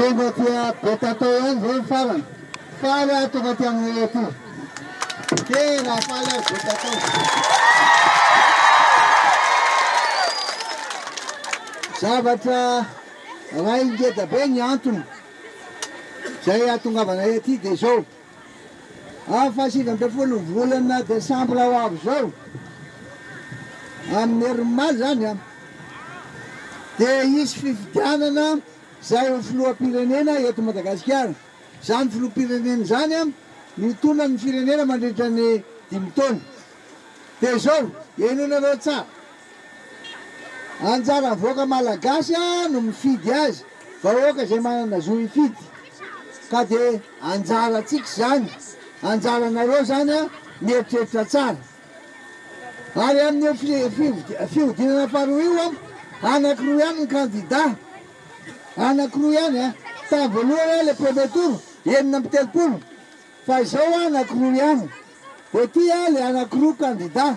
Tonga aty Betatao ihany izao ny farany. Faly aho tonga aty aminay aty. Tena faly aho Betatao. Zavatra raha ingeja be ny antony. Izay hahatongavanay aty dia izao, amin'ny fahasivy ambin'ny folo ny volana desambra ho avy izao, amin'ny herin'ny omaly izany, dia hisy fifidianana izay ho filoham-pirenena eto Madagasikara. Izany filoham-pirenena izany no hitondra ny firenena mandritra ny dimy taona. Dia izao, henoinareo tsara. Anjaran'ny vahoaka malagasy no mifidy azy, vahoaka izay manana zo hifidy ka dia anjarantsika izany, anjaranareo izany mieritreritra tsara. Ary amin'io fihodinana faharoa io anankiroa ihany ny kandida, anankiroa ihany, tamin'ny voalohany ilay premier tour enina amby telopolo fa izao anankiroa ihany, dia ity ilay anankiroa kandida.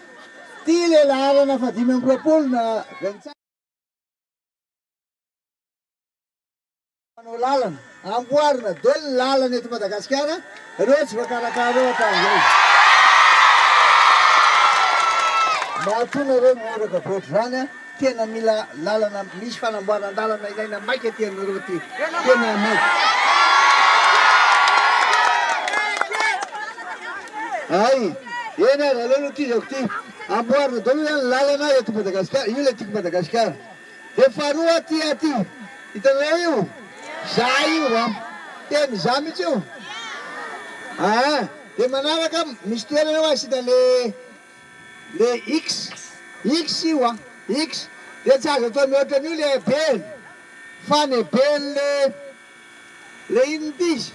Tia le laharana fa dimy amby roapolo na vingt cinq. Mpanao lalana, amboarina be ny lalana eto Madagasikara, reo tsy voakarakara reo hatramzay. Mahatonga reo mihiraka be otrzany a. Tena mila lalana misy fanamboaran dalana ilaina maika ty anareo ty tena maika hay eny ary aleo aloha ty zako ty amboarina daholo zany lalana eto Madagasikara io le tiko Madagasikara de faharoa ty aty hitanareo io za io a tena za mitsy io aa de manaraka misy toerana eo asina le Le X, X io a! X, de tsy azo atao mihoatra an'io le Abel, fa ny Abel le, le inona ity izy?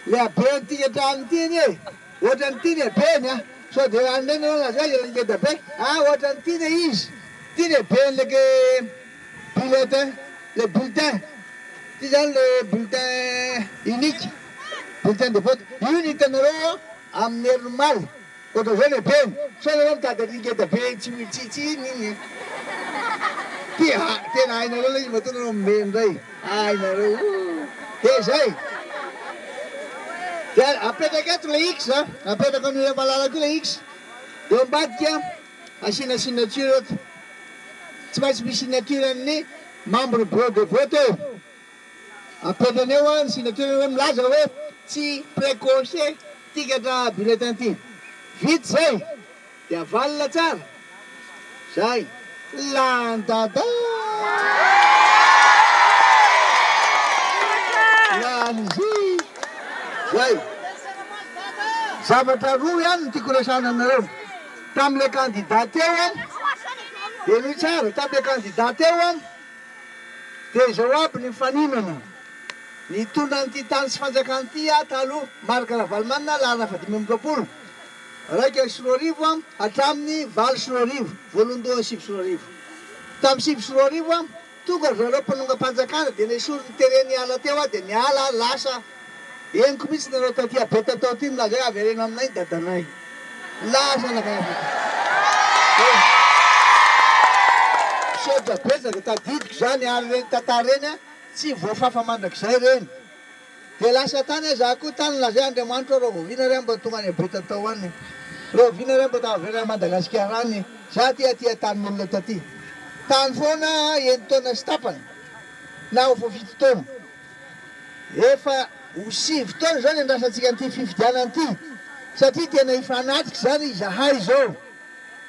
le Abel tika hatrany ity anie e! ohatrany ity ny Abeny a! sao de hanome nareo anazy hoe ilay ngedabe, a! ohatrany ity le izy, ity ny Abeny le ke bulletin, le bulletin, ity zany le bulletin unique, bulletin de vote, io ny hitanareo amin'ny herin'ny omaly. Gaga zao le ben. Sao nareo mitady an'iny ngeda be tsy mitsitsy iny iny e. Ty a! tena hainareo le izy matoa nareo mimeno ndray ay nareo ooh. Dia izay. Dia apetraka eto le X a! Apetrako an'io ray malala ko le X. Eo ambadika asiana signature eto. Tsy maintsy misy signature an'ny membre bureau de vote eo. Apetrany eo an signature hoe milaza hoe tsy precoce tikatra bulletin ty. Vita zay de avalona tsara. Zay. Zay. Zavatra roa ihany no tiako resahana aminareo. Tamle candidat teo an, henoy tsara, tamle candidat teo an, Dia izao aby ny mifaninona. Nitondra an'ity tany sy fanjakana ity aho taloha, Marc Ravalomanana, laharana fahadimy amby roapolo, iraika sy roa arivo hatramin'ny valo sy roa arivo, voalohandohany sivy sy roa arivo. Tamin'ny sivy sy roa arivo, tonga ry zareo mpanongam-panjakana dia nesorin'ny teren'ny ala teo aho dia niala aho lasa. Henoko mihitsy nareo taty a be tatao ty milaza hoe avereno aminay ny dadanay lasa la karaha fantatra. Misaotra betsaka tadidiko zany ary reny tantara reny a tsy voafafa mandrakizay reny de lasa tany a za koa tany lazain Andriamanitra hoe rahoviana re mba tonga any a be tatao any e rahoviana re mba ta avereno any Madagasikara any e za ty aty a tanin'olona taty tany foana a enitaona sy tapany na ho fafito taona Efa ho sivy taona izao ny andrasantsika an'ity fifidianana ity satria tena hifanatrika izany izahay izao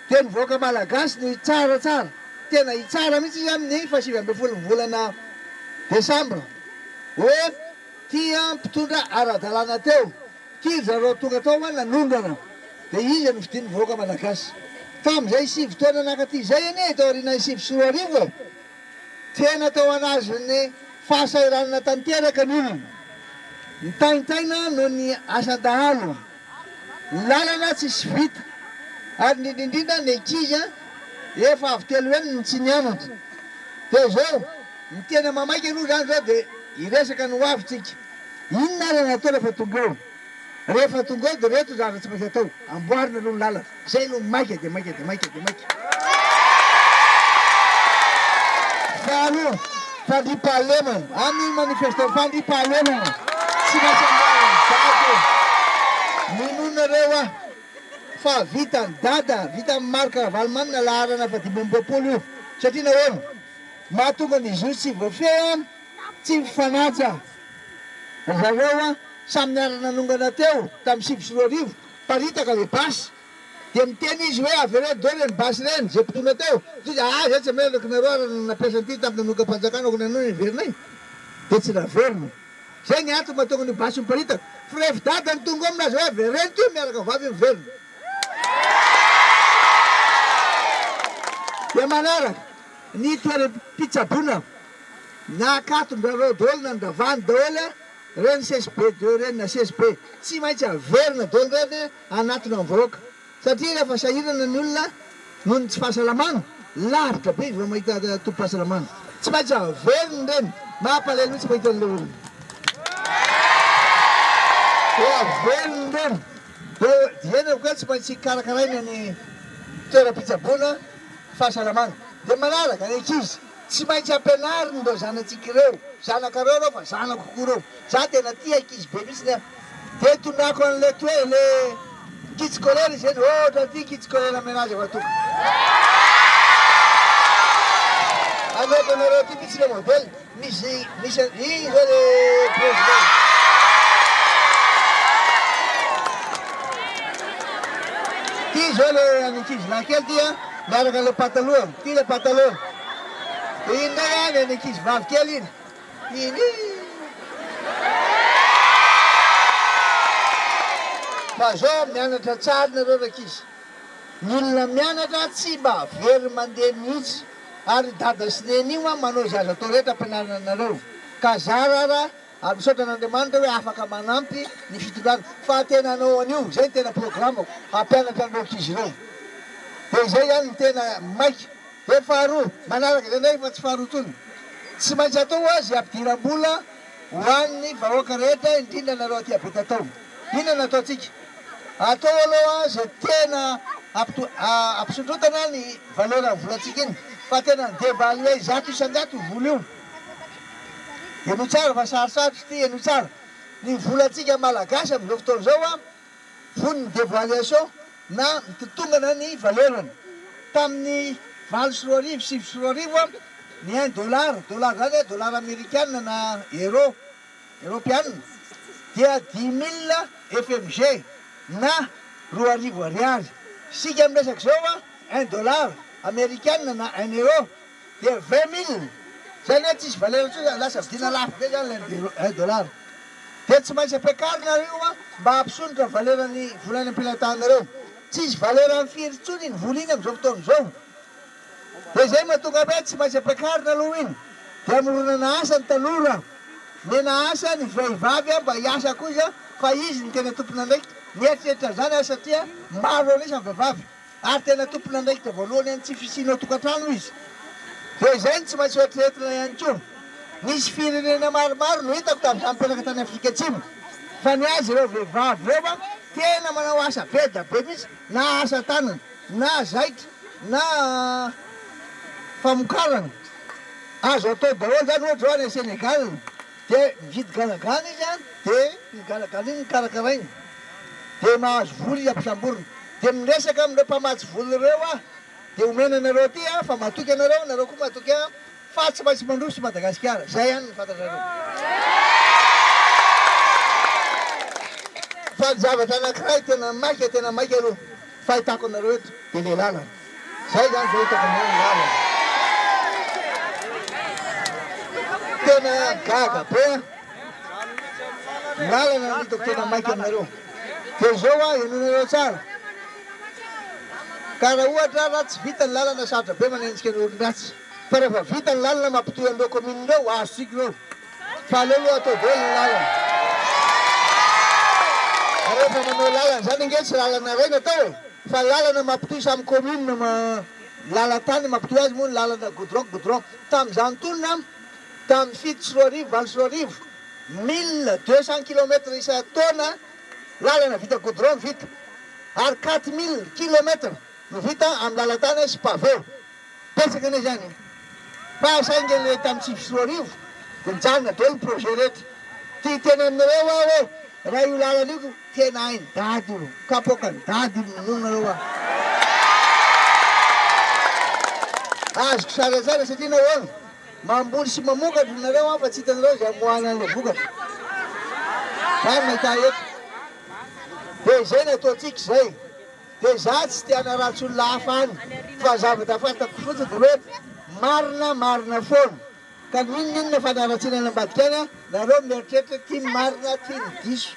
dia ny vahoaka malagasy no hitsara tsara, tena hitsara mihitsy izy amin'ny faha sivy ambin'ny folo ny volana desambra hoe tia mpitondra ara-dalàna teo ity ry zareo tonga tao fa nanondrana dia izy no fidin'ny vahoaka malagasy tamin'izay sivy taona naka ity izay anie tao aorianan'ny sivy sy roa arivo e! Tsena teo anazon'ny fahasahiranana tanteraka ny olona. Mitaintaina noho ny asan-dahalo, ny lalana tsisy vita ary indrindraindrindra ny ankizy efa avy telo heny no tsy nianatra. Dia izao, ny tena mamaika aloha izany izao dia hiresaka ny ho avy tsika. Inona ary no atao rehefa tonga eo? Rehefa tonga ao dia ireto ny zavatra tsy maintsy atao, amboarina aloha ny lalana, izay aloha maika dia maika dia maika dia maika. Faharoa, fandriampahalemana, amin'ny manifeste, fandriampahalemana, tsy maintsy amboarina ny dada e! Minoa nareo aho fa vitan'i dada, vitan'i Marc Ravalomanana laharana fahadimy amby roapolo io, satria nahoana? Mahatonga ny zo tsy voafehy an! Tsy mifanaja ry zareo an! Samy niara-nanongana teo tamin'ny sivy sy roa arivo, niparitaka ilay basy, dia miteny izy hoe avereno daholo ireny basy ireny, izay mpitondra teo, toy izay ah izay tsy meloka nareo ary ny nampiasa an'ity tamin'ny nanongam-panjakana aoka ny anona no heverinay? dia tsy naverina. Izay ny antony mahatonga an'io basy io miparitaka, fa rehefa dada no tonga ao amin'azy hoe avereno ity miaraka vavy io miverina. Dia manaraka ny toeram-pitsaboana. Nakaton-drareo daholo nandravany daholo a! Reny sesy be deo reny na sesy be tsy maintsy averina daholo reny hanatona ny vahoaka satria rehefa sahirana ny olona noho ny tsy fahasalamana lavitra be izy vao mahita tobim-pahasalamana tsy maintsy averina reny mampalahelo mihitsy mahita an'ilay olona vao averina reny vao dieny ko tsy maintsy karakaraina ny toeram-pitsaboana fahasalamana dia manaraka ny ankizy Tsy maintsy ampianariny ireo zanatsika ireo, zanakareo ireo fa zanako koa ireo, za tena tia ankizy be mihitsy an, de tondrako anle toe le kitsikolera izy ireny, ohatra ity kitsikolera menage va toka aleoko anareo ity mihitsy le modèle misy misy an i zao le president ty zao le ankizilahy kely ty an Miaraka le pataloha, ty le pataloha, dia iny indray any any ankizy vavy kely iny, iny ih. Fa zao mianatra tsara nareo rankizy, ny olona mianatra tsy mba very mandeha mihitsy, ary dada sy neny io an manao izay azo atao rehetra ampianarana anareo, ka zara ara Ary misaotra an'Andriamanitra hoe afaka manampy ny fitondrana fa tena hanao an'io, izay no tena programako, hampianatra an'ireo ankizy ireo. Dia izay ihany no tena maika. Dia ny faharoa, manaraka izay indray fa tsy faharoa intsony, tsy maintsy atao ho'a zy ampidiram-bola ho an'ny vahoaka rehetra indrindra anareo aty Ampetatao. Inona no ataontsika? Atao aloha izay tena hampisondrotana ny valeran'ny volantsika iny fa tena ny debat an'ilay zato isan-jato io vola io. Henoy tsara fa sarotsarotry ity henoy tsara ny volantsika malagasy amin'izao fotoana izao an! Vono ny devaluation na mitotongana ny valeur-ny. Tamin'ny valo sy roa arivo, sivy sy roa arivo an! ny un dollar, dollar zany an, dollar amerikanina na euro, eropeanina, dia dix mille FMG na roa arivo ariary. Isika miresaka izao an! un dollar amerikanina na un euro, Dia vingt mille, izay anie tsisy valeur intsony zany, lasa vidina lafo be zany ilay un dollar. Dia tsy maintsy ampiakarinareo an, mba hampisondrotra valeur ny vola any am-pelantananareo. Tsisy valeur am firy intsony iny vola iny amin'izao fotoana izao. Dia izay no mahatonga an hoe tsy maintsy ampiakarina aloha iny, dia amoronana asa ny tanora, mena asa ny vehivavy an mba hiasa kosa fa izy no tena tompon'andraikitra. Mieritreritra an'izany an satria maro an'isa ny vehivavy. Ary tena tompon'andraikitra voalohany an'ny tsy fisianao tokantrano hoy izy. Dia izay no tsy maintsy hoeritreretina ihany koa. Nisy firenena maromaro no hitako tamin'izany mpianaka tany Afrika Atsimo fa ny azy ireo vehivavy ireo an, tena manao asa be da be mihitsy na asa tanana na zaitra na famokarana. Azo atao daholo izany ohatra izao any Senegal. Dia mividy ganagana izy an, dia iny ganagana iny no karakarainy, dia mahazo vola izy ampisamborina, dia miresaka amin'ireo mpamatsy vola ireo an, dia omena anareo aty an, fa matoky anareo, nareo koa matoky an, fa tsy maintsy mandroso Madagasikara, zay ihany no fantatrareo. Fa ny zavatra anakiray tena maika, tena maika aloha fahitako anareo eto, dia ilay lalana. Zay zany zao hitako ny hoe lalana. Tena gaga be an! Lalana no hitako tena maika aminareo. Dia izao hoa henoinareo tsara. Ka raha ohatra raha tsy vita ny lalana sarotra be manenjika ny olon-dratsy. Fa rehefa vita ny lalana mampitohy an'ireo kaominina ireo, azo tsika ireo. Fa aleo aloha atao be ny lalana. Fa rehefa manao lalana izany ange tsy lalana iray no atao e! Fa lalana mampitohy samy commune ma lalan-tany mampitohy azy moa ny lalana goudron goudron. Tamin'izany tolona an! Tamin'ny fito sy roa arivo, valo sy roa arivo, mille deux cents kilomètres isan-taona lalana vita goudron no vita. Ary quatre mille kilomètres no vita amin'ny lalan-tany sy pavé. Betsaka anie izany e! Fa saingy anie tamin'ny sivy sy roa arivo dia nijanona daholo ny projet rehetra. Dia hiteny aminareo aho hoe raha io lalana io ka tena hain'i Dada io, kapoakan'i Dada io, minono nareo aho. Azoko sary an-tsaina satria nahoana? Mamboly sy mamokatra nareo an fa tsy hitanareo izay amoahana an'ilay vokatra. Izany no ahita eto. Dia izay no ataontsika izay. Dia izaho tsy te hanaratsy olona hafa any fa ny zavatra fantako fotsiny dia hoe marina marina foana ka n'inon'inona fanaratsiana any ambadika any a nareo mieritreritra ity ny marina ity ny diso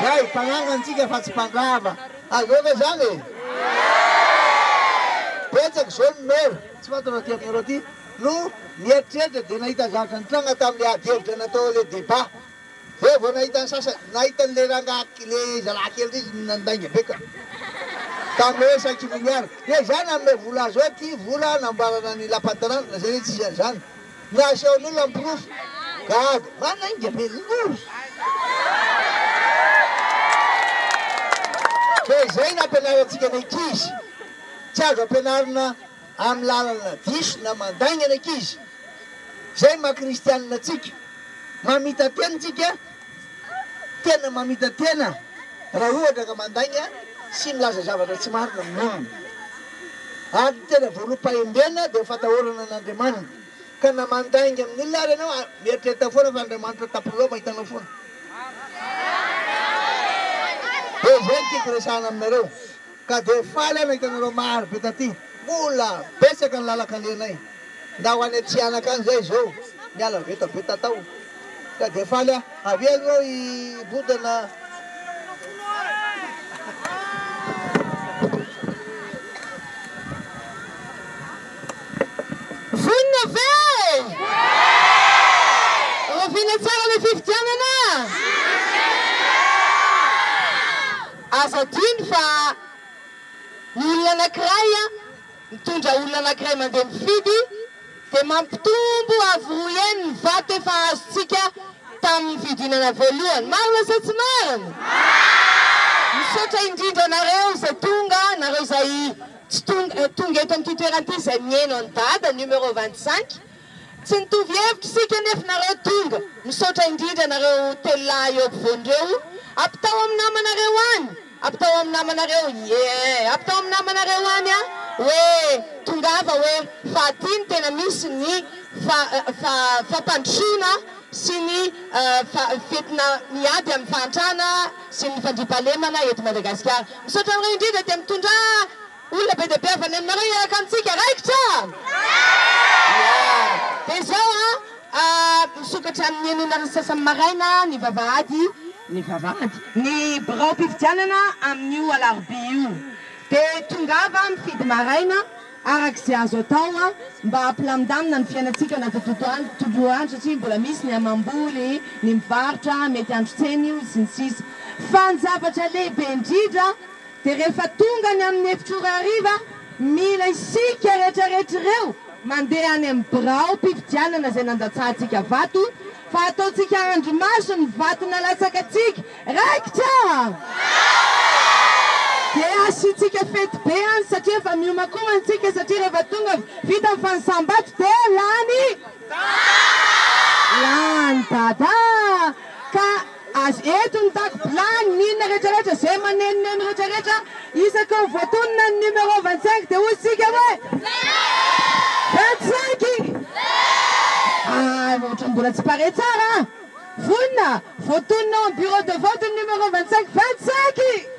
zay mpanangana tsika fa tsy mpandrava azonareo ve zany e betsaka izao ny maire tsy fantatro raha aty aminareo aty no nieritreritra dia nahita zavatra nitranga tamin'ilay ady hevitra natao ilay débat Zay vao nahita ny sasany, nahita an'ilay rangahy ilay zalahy kely rey izy nandainga be ka tamin'ny hoe cinq milliards dia zay nanome vola azy hoe ty vola namboarana ny lapan'ny tanàna na zay tsy zay zany na asehon'ny olona ny porofo gaga manainga be loozy dia zay nampianarantsika ny ankizy tsy azo ampianarina Amin'ny lalana diso na mandaingana ankizy izay maha kristianina antsika. Mamita-tena antsika, tena mamita-tena raha ohatra ka mandainga sy milaza zavatra tsy marina amin'ny olona. Ary ny tena voaloham-pahembena dia fatahorana an'Andriamaniny. Ka na mandainga amin'ny olona ary ianao, mieritrerita foana fa Andriamanitra tapiloha mahitanao foana. Dia izay no tiako resahana aminareo. Ka dia faly aho nahita anareo maro be taty. Mbola betsaka ny lalan-kalehanay. Ndao any Atsihanaka any izay izao niala vetaveta tao. Ka dia faly aho. Avia aloha hibontana. Vonona ve? Rahoviana tsara ny fifidianana? Azo adino fa ny olona anankiray mitondra olona anankiray mandeha mifidy dia mampitombo avo roa heny ny vato efa azontsika tamin'ny fidinana voalohany. Marina sa tsy marina? Misaotra indrindra anareo izay tonga, nareo izay tsy tonga eto amin'ity toerana ity izay miheno an'i Dada, numéro vingt cinq. Tsy nitovy hevitra isika anefa nareo tonga, misaotra indrindra anareo telo lahy eo ampovoany ireo, ampitao amin'ny namanareo any, ampitao amin'ny namanareo eeh, ampitao amin'ny namanareo any a, hoe tongava hoe fa aty no tena misy ny fa fa fampandrosoana sy ny fa fetina miady amin'ny fahantrana sy ny fandriampahalemana eto Madagasikara. Misaotra anareo indrindra dia mitondraa. Olona be dia be avy any aminareo hiaraka amintsika, raikitra? Ia. Dia izao a, misokatra amin'ny enina ora sy sasany maraina ny vavahady, ny vavahady, ny biraom-pifidianana amin'io alarobia io. Dia tongava mifidy maraina araka izay azo atao mba hampilamindamina ny fiainantsika anaty tontolo andro, tontolo andro satria mbola misy ny hamam-boly, ny mivarotra, mety handro tsena io, sy ny sisa. Fa ny zavatra lehibe indrindra, Dia rehefa tonga any amin'ny efitr'ora hariva, mila isika rehetrarehetra ireo mandeha any amin'ny biraom-pifidianana izay nandatsahantsika vato, fa ataontsika andrimaso ny vato nalatsakantsika. Raikitra? Dia asiantsika fety be any satria efa miomankoma isika satria rehefa tonga vita ny fanisam-bato dia lany dada! Lany dada! Ka. Azy eto ny dago bilany, ny inona rehetra rehetra, zay manenoneno rehetra rehetra, isaka ho voatonona ny numéro vingt cinq dia hoy tsika hoe vingt cinq ah ohatra mbola tsy pare tsara an! vonona voatonona ao am bureau de vote ny numéro vingt cinq vingt cinq.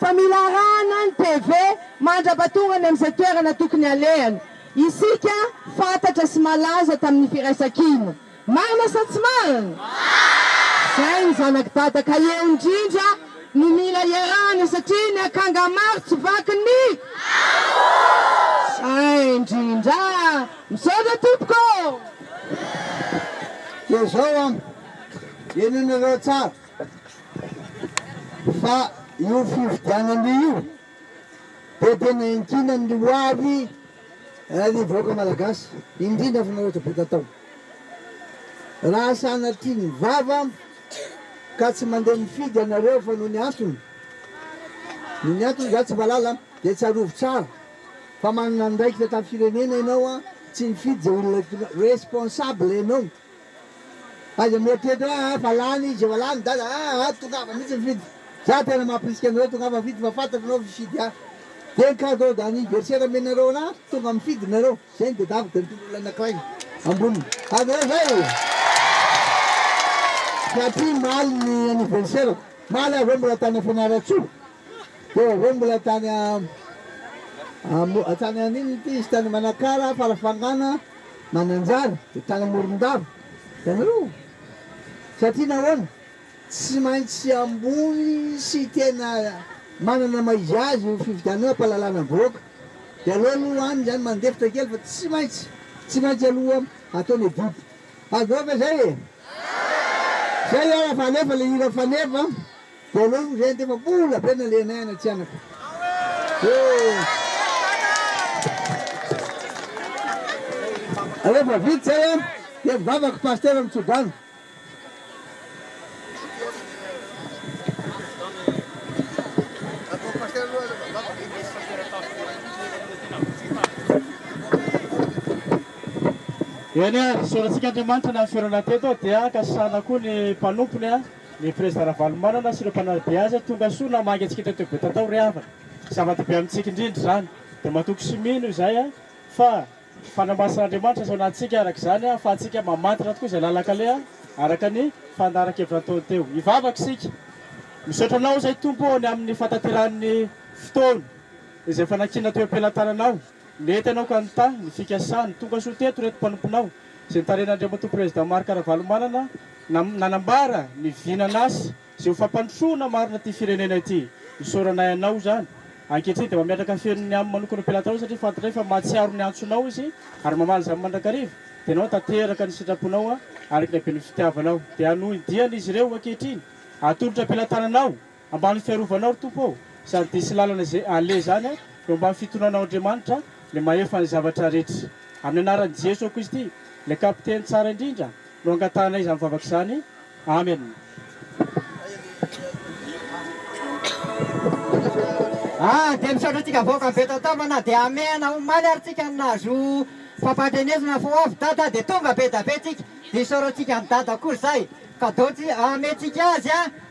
Fa mila arahana ny TV mandrapa tonga any amin'izay toerana tokony halehany. Isika fantatra sy malaza tamin'ny firaisankina. Marina sa tsy marina? Marina! Izay ny zanak'i Dada ka eo indrindra no mila iarahana satria ny akanga maro tsy vaky ny ambony! Izay indrindra! Misaotra tompoko! Dia izao an, henonareo tsara. Fa io fifidianana io dia tena iankinany ny ho avy ny vahoaka Malagasy, indrindra fa nareo tabeta atao. Raha sanatria ny vava ka tsy mandeha mifidy ianareo fa noho ny antony, noho ny antony za tsy mahalala an, dia tsarovy tsara fa manana andraikitra tamin'ny firenena ianao an, tsy nifidy izay olona responsables ianao. Aza mieritreritra hoe aa fa lany izy efa lany dada aa tongava mihitsy mifidy za tena mampirisika anareo tongava mifidy fa fantatra anao fifidy a de ny cadeau d'anniversaire amenareo ana tonga mifidy nareo zay ny dedako de mitondra olona anakiray amboniny ary nareo zay satria maly ny anniversaire-ko maly ary hoe mbola tany fianarantsoa Teo avoa mbola tany Am, tany an'inona ity izy, tany Manakara, Farafangana, Mananjary, dia tany Amorondava. Hitanareo? Satria nahoana? Tsy maintsy ambony sy tena manana maha-izy azy io fifidianana io, hampahalalana ny vahoaka. Dia aleo aloha any izany mandefitra kely fa tsy maintsy, tsy maintsy aloha atao ny edit. Azoko ve izay e? Izay ary fa alefa ilay hira Faneva an! Voalohany izay ande fa mbola be nalehanay any Antsihanaka ee. Rehefa vita izay an dia nivavaka Pasitera Mitsodrano. Eny an, isaorantsika Andriamanitra nahaferoana teto dia ankasitrahana koa ny mpanompony an. Ny prezida Ravalomanana sy ireo mpanaradia azy tonga soa na maika tsikinta teo be tatao ry havana. Zava-dehibe amintsika indrindra izany. Dia matoky sy mino izay aho fa fanamasin'Andriamanitra asao natsika araka izany ahafahantsika mamantatra tokoa izay lalan-kaleha araka ny fandaharan-kevitra nataony teo. Hivavaka isika. Misaotra anao izay Tompo ô ny amin'ny fahatanterahan'ny fotoana izay efa nakiana teo am-pelantananao. Mety ianao ka nitaha ny fikasany. Tonga soa teto ireto mpanomponao, izay notarihan' Andriamatoa Prezidà Marc Ravalomanana, na nanambara ny vinan'asa sy ho fampandrosoana marina ity firenena ity. Isaoranay anao izany. Ankehitriny dia mametraka feno ny amo manokana ho mpilatao satria fantatray fa mahatsiaro ny antsonao izy ary mamaly izany mandrakariva. Dia ianao tanteraka ny sitraponao araka ny haben'ny fitiavanao. Dia hanohy ny diany izy ireo ankehitriny. Atolotra am-pilatananao. Ambany fiarovanao ry Tompo ô, sady dia sy lalana izay aleha izany a, eo ambany fitondrana Andriamanitra le mahefa ny zavatra rehetra. Amin'ny anaran'i Jeso Kristy, ilay Kapiteny tsara indrindra, no angatahanay izany vavaka izany. Amen. Ah dia misaotra antsika vahoaka be tantamana dia amehana omaly ary tsika ny nahazo fampandrenesana fa ho avy dada dia tonga be da be tsika dia isaorantsika an'i dada koa izay kadotsy ametintsika azy a.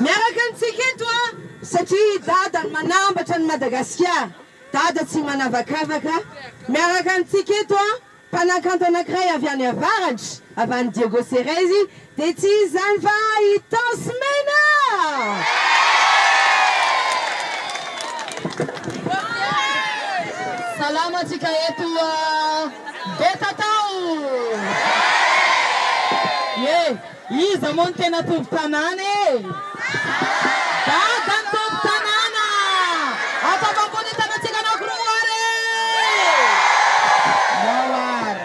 Miaraka amintsika eto a satria i Dada no manambatra an'i Madagasikara, Dada tsy manavakavaka, miaraka amintsika eto a mpanakanto anankiray avy any avaratra, avy any Diego Ceres, Dia tsy izy izany va i Taos Mena? Salama antsika eto a Betatao! Ie, iza moa no tena tompon tanàna e? Dada no tompon tanàna! Ampafampo ny tanantsika anaky roa ary e! Nao ary.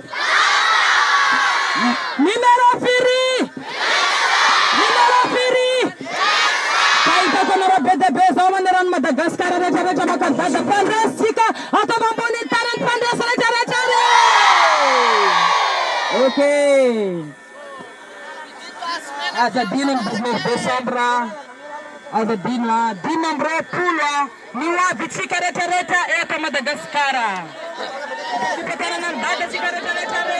Numero firy? Numero firy? Fa hitako anareo be dia be zao manerana Madagascar rehetra rehetra maka zaza mpandresy tsika ataovy ambonin'ny tany ny mpandresy rehetra rehetra re! Okay. Aza adino ny dix neuf decembre a! Aza adino a! Dimy amby roapolo a! Ny ho avy tsika rehetra rehetra eto Madagasikara! Fitantanana ny dada tsika rehetra rehetra re!